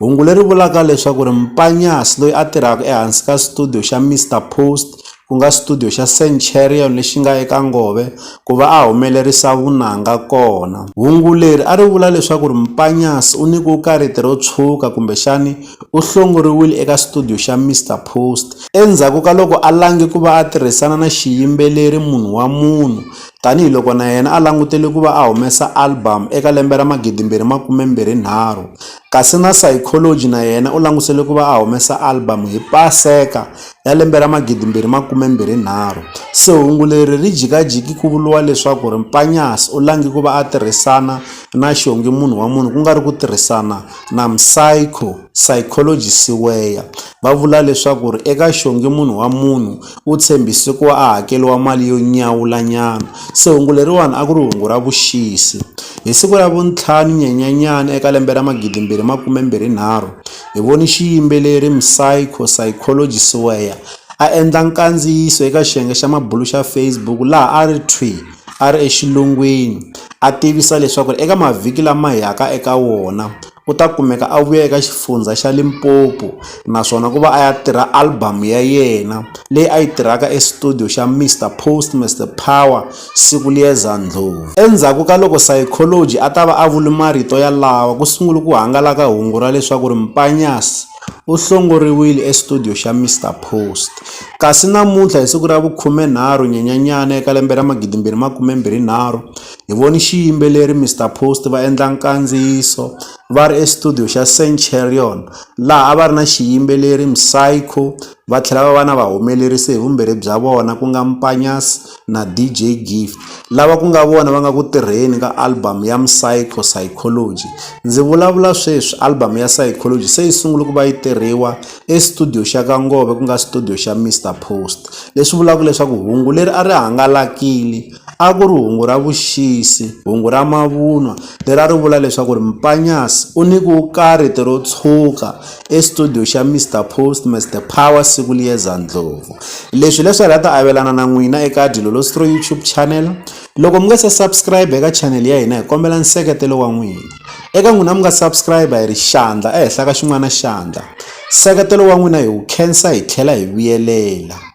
Hungu leri vulaka leswaku ri Mpanyasi loyi a tirhaka ehansi ka studio xa Mister Post ku nga studio xa Centurion lexi nga eka Ngove ku va a humelerisa vunanga kona. Hungu leri a ri vula leswaku ri Mpanyasi u nyikiwe kariti ro tshuka kumbexani u hlongoriwile eka studio xa Mister Post endzhaku ka loko a lange ku va a tirhisana na xiyimbeleri Munhu Wa Munhu tanihi loko na yena a langutele ku va a humesa album eka lembe ra magidimbirhi makume mbirhi nharhu kasi na Saykholojhi na yena u langutisele ku va a humesa album hi Paseka ya lembe ra 2023. Se hungu leri ri jikajiki ku vuriwa leswaku ri Mpanyas u lange ku va a tirhisana na xiongi munhu wa munhu ku nga ri ku tirhisana na Msaykho, Saykholojhi Siweya. Va vula leswaku ri eka xiongi munhu wa munhu u tshembise ku va a hakeriwa mali yo nyawulanyana. Se hungu leriwani a ku ri hungu ra vuxisi. Hi siku ra vuntlhanu Nyenyenyani eka lembe ra magidi mbirhi makume mbirhi nharhu, hi voni xiyimbeleri Msayko Saykoloji Siweya a endla nkandziyiso eka xiyenge xa mabulu xa Facebook laha a ri thwi a ri exilungwini a tivisa leswaku eka mavhiki lama yaka eka wona, u ta kumeka a vuya eka xifundzha xa Limpopo naswona ku va a ya tirha album ya yena leyi a yi tirhaka e studio xa Mister Post Mister Power siku liyeza ndlhovu endzhaku ka loko Saikholoji a ta va a vuli marito ya lawa ku sungule ku hangalaka hungu ra leswaku ri Mpanyasi u hlongoriwile e studio xa Mister Post kasi namuntlha hi siku ra vukhumenharhu Nyenyanyana eka lembe ra magidimbirhi makumembirhinharhu Hi vone xiyimbeleri Mister Post va endla nkandziyiso va ri exitudiyo xa Centurion laha a va ri na xiyimbeleri Psycho va tlhela va va na vahumelerisi hi vumbirhi bya vona ku nga Mpanyas na DJ Gift lava ku nga vona va nga ku tirheni ka album ya Psycho Psychology. Ndzi vulavula sweswi album ya Psychology se yi sungule ku va yi tirhiwa exitudiyo xa ka Ngove ku nga xitudiyo xa Mister Post leswi vulaka leswaku hungu leri a ri hangalakile. a ku ri hungu ra vuxisi, hungu ra mavunwa leri a ri vula leswaku ri Mpanyasi u ni ku karhiti ro tshwuka estudiyo xa Mister Postmas The Power siku liyeza ndlopfu. Leswi leswi a hi la ta avelana na n'wina eka Dilolositro YouTube channel. Loko mi nga se subscribe eka channel ya hina hi kombela nseketelo wa n'wina. Eka n'wina mi nga subscribe hi ri xandla ehenhla ka xin'wana xandla. Nseketelo wa n'wina hi wu khensa hi tlhela hi vuyelela.